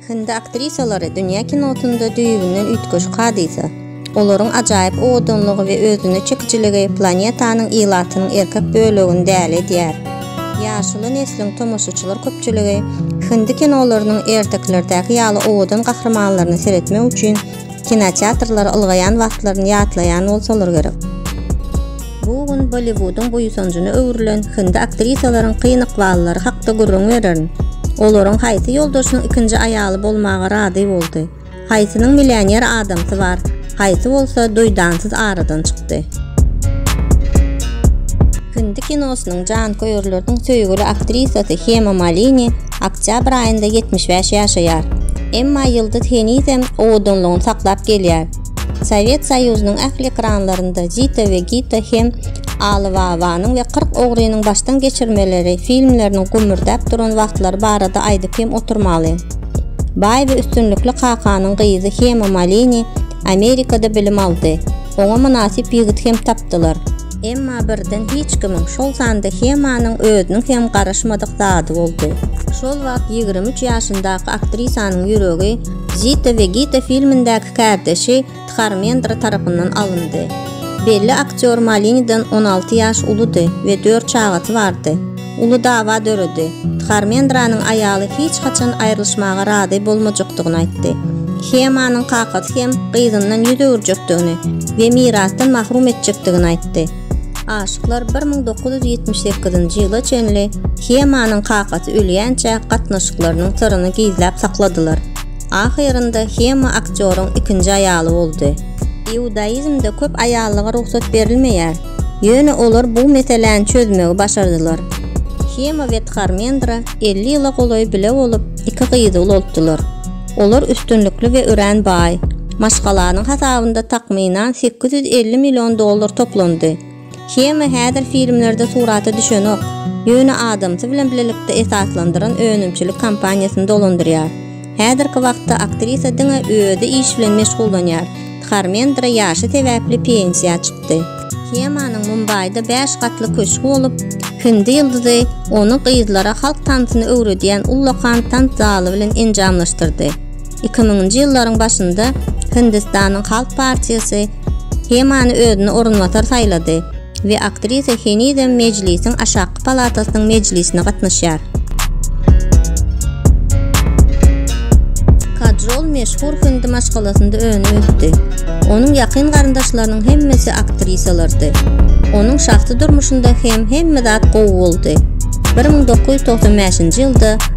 Hindi aktrisalary dünýä kinosynda düýbünden üýtgeşik hadysa. Olaryň ajaýyp owadanlygy we özüne çekijiligi planetanyň ilatynyň erkek bölegini däli edýär. Ýaşuly nesliň tomaşaçylar köpçüligi hindi kinolarynyň ertekilerdäki ýaly owadan gahrymanlaryna seretmek üçin Kinoteatrlara ylgaýan wagtlaryny ýatlaýan bolsalar gerek. Bu gün Bolliwudyň buýsanjyna öwrülen hindi aktrisalaryň kyn ykballary hakda gürrüň bererin. Olaryň haýsy ýoldaşynyň ikinji aýaly bolmaga razy boldy? Haýsynyň millioner adamsy bar, haýsy bolsa duýdansyz aradan çykdy? Hindi kinosynyň janköýerleriniň söýgüli aktrisasy Hema Malini Oktýabr aýynda ýetmiş bäş ýaşaýar. Emma ýyldyz henizem owadanlygyny saklap gelýär. Sowet Soýuzynyň ähli ekranlarynda Zita we Gita hem Aly babanyň we Kyrk ogrynyň başdan geçirmeleri filmleriniň gümmürdäp duran wagtlary barada aýdyp hem oturmaly. Baý we üstünlikli kakanyň gyzy Hema Malini Amerikada bilim aldy. Oňa mynasyp ýigit hem tapdylar. Emma birden hiç kimiň, şol sanda Hemanyň özüniň hem garaşmadyk zady boldy. Şol wagt ýigrimi üç ýaşyndaky aktrisanyň ýüregi Zita we Gita filmindäki kärdeşi Dharmendra tarapyndan alyndy. Belli aktýor Malinidan on alty ýaş uludy we dört çagasy bardy. Uly dawa döredi. Dharmendranyň aýaly hiç haçan aýrylyşmaga razy bolmajakdygyny aýtdy. Hemanyň kakasy hem gyzyndan ýüz öwürjekdigini we mirasdan mahrum etjekdigini aýtdy. Aşyklar bir müň dokuz ýüz ýetmiş sekizinji ýyla çenli Hemanyň kakasy ölýänçä gatnaşyklarynyň syryny gizläp sakladylar. Ahyrynda Hema aktýoryň ikinji aýaly boldy. Iudaizmde köp aýallyga rugsat berilmeýär. Ýöne olar bu meseläni çözmegi başardylar. Hema we Tharmendra elli ýyla golaý bile bolup, iki gyzy ulaltdylar. Olar üstünlikli we örän baý. Maşgalanyň hasabynda takmynan sekiz ýüz elli million dollar toplandy. Hema häzir filmlerde surata düşenok, ýöne adamsy bilen bilelikde esaslandyran önümçilik kompaniýasyny dolandyrýar. Häzirki wagtda aktrisa diňe özi iş bilen meşgullanýar. Dharmendra ýaşy sebäpli pensiýa çykdy. Hemanyň Mumbaýda bäş gatly köşgi bolup, hindi ýyldyzy ony gyzlara halk tansyny öwredýän ullakan tans zaly bilen enjamlaşdyrdy. Iki müňünji ýyllaryň başynda Hindistanyň Halk partiýasy Hemany özüne orunbasar saýlady. we aktrisa henizem Mejlisiň aşaky palatasynyň mejlisine gatnaşýar. Kajol meşhur hindi maşgalasynda önüp-ösdi. Onuň ýakyn garyndaşlarynyň hemmesi aktrisalardy. Onuň şahsy durmuşynda hem hemme zat gowy boldy. Bir müň dokuz ýüz togsan bäşinji ýylda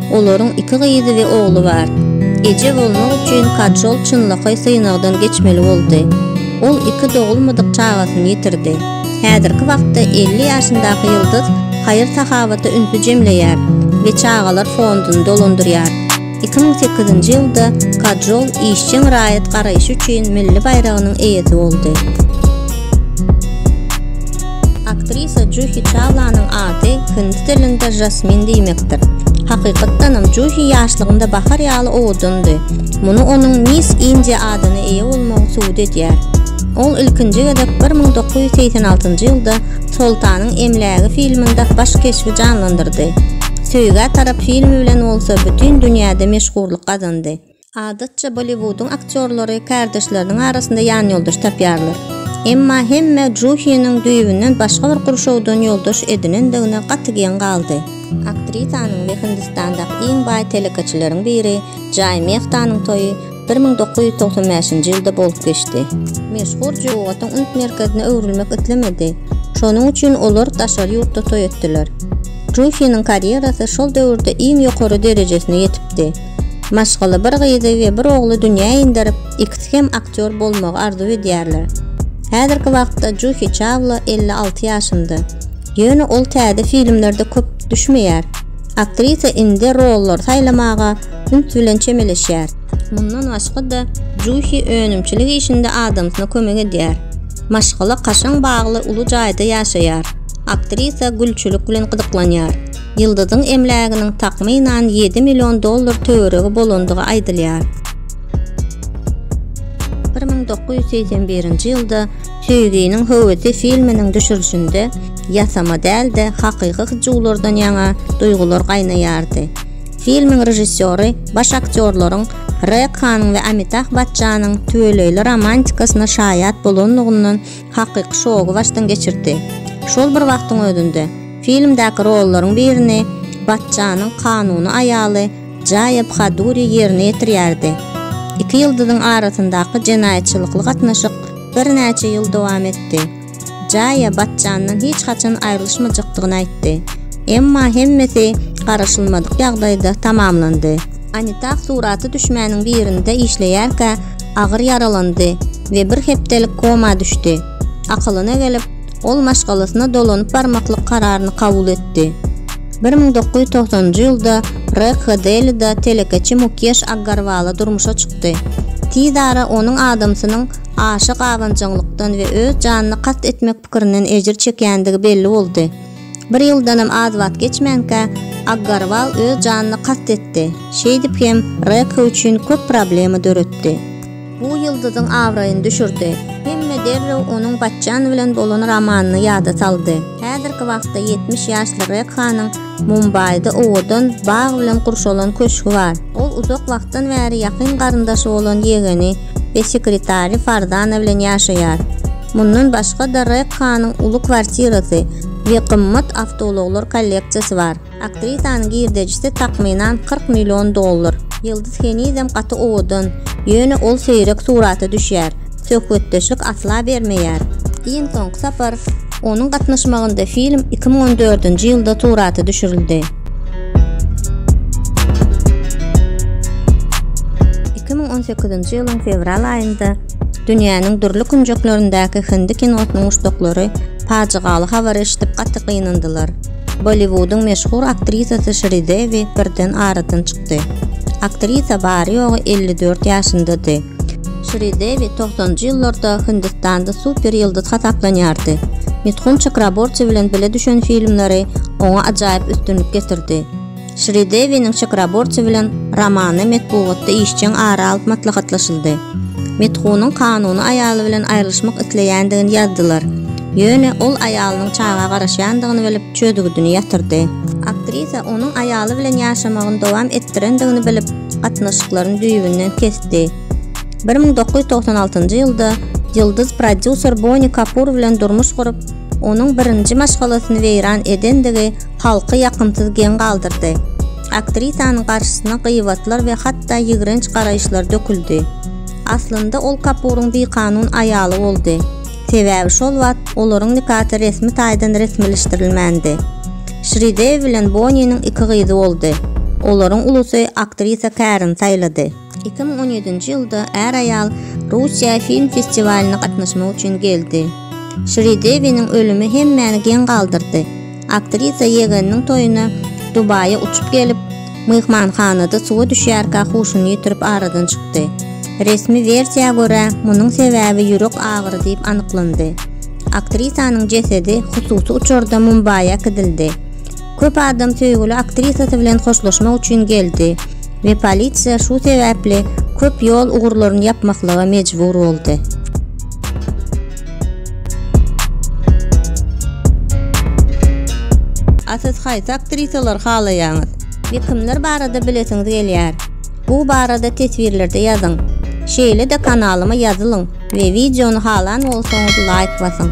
Olaryň iki gyzy we ogly bar. Eje bolmak üçin Kajol çynlakaý synagdan geçmeli boldy. Ol iki dogulmadyk çagasyny ýitirdi. Häzirki wagtda elli ýaşyndaky ýyldyz haýyr-sahawata ünsi jemleýär we çagalar fonduny dolandyrýar. Iki müň sekizinji ýylda Kajol işjeň raýat garaýşy üçin milli baýragynyň eýesi boldy. Aktrisa Juhi Çawlanyň ady hindi dilinde Jasmin diýmekdir. Hakykatdanam Juhi ýaşlygynda bahar ýaly owadandy. Muny onuň Miss India adyna eýe bolmagy subut edýär. Ol ilkinji gezek bir müň dokuz ýüz segsen altynjy ýylda Soltanyň emlägi filminde baş keşbi janlandyrdy. Söýgä tarap filmi bilen bolsa bütin dünýäde meşhurlyk gazandy. Adatça Bolliwudyň aktýorlary kärdeşleriniň arasynda ýanýoldaş tapýarlar. Emma hemme Juhiniň düýbünden başga bir gurşawdan ýoldaş edinendigine gaty geň galdy. Aktrisanyň we Hindistandaky iň baý telekeçileriň biri Jay Mehtanyň toýy bir müň dokuz ýüz togsan bäşinji ýylda bolup geçdi. Meşhur Juwatyň üns merkezine öwrülmek islemedi. Şonuň üçin olar daşary ýurtda toý etdiler. Juhiniň karýerasy şol döwürde iň ýokary derejesine ýetipdi. Maşgala bir gyzy we bir ogly dünýä inderip, ikisi hem aktýor bolmagy arzuw edýärler. Häzirki wagtda Juhi Çawla elli alty ýaşynda. Ýöne ol täze filmlerde köp düşmeýär. Aktrisa indi rollary saýlamaga üns bilen çemeleşýär. Mundan başga-da, Juhi önümçilik işinde adamsyna kömek edýär. Maşgala kaşaň bagly uly jaýda ýaşaýar. Aktrisa gülçülik bilen gyzyklanýar. Ýyldyzyň emläginiň takmynan ýedi million dollar töweregi bolandygy aýdylýar. Bir müň dokuz ýüz segsen birinji ýylda Söýginiň höwesi filminiň düşürilişinde ýasama däl-de, hakyky hyjuwlardan ýaňa duýgular gaýnaýardy. Filmiň režissýory baş aktýorlaryň Rekhanyň we Amitah Bachjanyň tüweleýli romantikasyna şaýat bolanlygyndan hakyky şogy başdan geçirdi. Şol bir wagtyň özünde, filmdäki rollaryň birini Batjanyň kanuny aýaly Jaýa Bhaduri ýerine ýetirýärdi. Iki ýyldyzyň arasyndaky jenaýatçylykly gatnaşyk birnäçe ýyl dowam etdi. Jaýa Batjandan hiç haçan aýrylyşmajykdygyny aýtdy. Emma hemmesi garaşylmadyk ýagdaýda tamamlandy. Anitah surata düşmäniň birinde işleýärkä agyr ýaralandy we bir hepdelik koma düşdi. Akylyna gelip, ol maşgalasyna dolanyp barmaklyk kararyny kabul etdi. Bir müň dokuz ýüz togsanynjy ýylda Rekha Delida telekeçi Mukeş Aggarwala durmuşa çykdy. Tiz ara onuň adamsynyň aşa gabanjaňlykdan we öz janyna kast etmek pikirinden ejir çekýändigi belli boldy. Bir ýyldanam az wagt geçmänkä, Aggarwal öz janyna kast etdi, şeýdip hem Rekha üçin köp problema döretdi. Bu ýyldyzyň abraýyny düşürdi. Hemme derrew onuň Batjan bilen bolan romanyny ýada saldy. Häzirki wagtda ýetmiş ýaşly Rekhanyň Mumbaýda owadan, bag bilen gurşalan köşgi bar. Ol uzak wagtdan bäri ýakyn garyndaşy bolan ýegeni we sekretary Fardana bilen ýaşaýar. Mundan başga-da Rekkanyň uly kwartirasy we gymmat awtoulaglar kolleksiýasy bar. Aktrisanyň girdejisi takmynan kyrk million dollar. Ýyldyz henizem gaty owadan, ýöne ol seýrek surata düşýär, söhbetdeşlik asla bermeýär. Iň soňky sapar onuň gatnaşmagynda film iki müň on dördünji ýylda surata düşürildi. Iki müň on sekizinji ýylyň fewral aýynda Dünýäniň dürli künjeklerindäki hindi kinosynyň muşdaklary pajygaly habary eşidip gaty gynandylar. Bolliwudyň meşhur aktrisasy Şridewi birden aradan çykdy. Aktrisa bary-ýogy elli dört ýaşyndady. Şridewi togsanjy ýyllarda Hindistanda super ýyldyz hasaplanýardy. Mithun Çakraborti bilen bile düşen filmleri oňa ajaýyp üstünlik getirdi. Şridewiniň Çakraborti bilen romany metbugatda işjeň ara alyp maslahatlaşyldy. Mithunyň kanuny aýaly bilen aýrylyşmak isleýändigini ýazdylar. Ýöne ol aýalynyň çaga garaşýandygyny bilip, çözgüdini ýatyrdy. Aktrisa onuň aýaly bilen ýaşamagyny dowam etdirendigini bilip, gatnaşyklaryny düýbünden kesdi. Bir müň dokuz ýüz togsan altynjy ýylda ýyldyz prodýuser Boni Kapur bilen durmuş gurup, onuň birinji maşgalasyny weýran edendigi halky ýakymsyz geň galdyrdy. Aktrisanyň garşysyna gybatlar we hatda ýigrenç garaýyşlar döküldi. Aslynda ol Kapuryň bikanun aýaly boldy, sebäbi şol wagt olaryň nikasy resmi taýdan resmileşdirilmändi. Şridew bilen Boniniň iki gyzy boldy. Olaryň ulusy aktrisa Kärin saýlady. Iki müň on ýedinji ýylda är-aýal Russiýa film festiwalyna gatnaşmak üçin geldi. Şridewiniň ölümi hemmäni geň galdyrdy. Aktrisa ýegeniniň toýuna Dubaýa uçup gelip, myhmanhanada suwa düşýärkä huşuny ýitirip aradan çykdy. Resmi wersiýa görä, munuň sebäbi ýürek agyry diýip anyklandy. Aktrisanyň jesedi hususy uçarda Mumbaýa kidildi. Köp adam söýgüli aktrisasy bilen hoşlaşmak üçin geldi we polisiýa şu sebäpli köp ýol ugurlaryny ýapmaklyga mejbur boldy. A siz haýsy aktrisalary halaýaňyz? We kimler barada bilesiňiz gelýär? Bu barada teswirlerde ýazyň. Şeýle-de kanalyma ýazylyň we wideony halan bolsaňyz laýk basyň.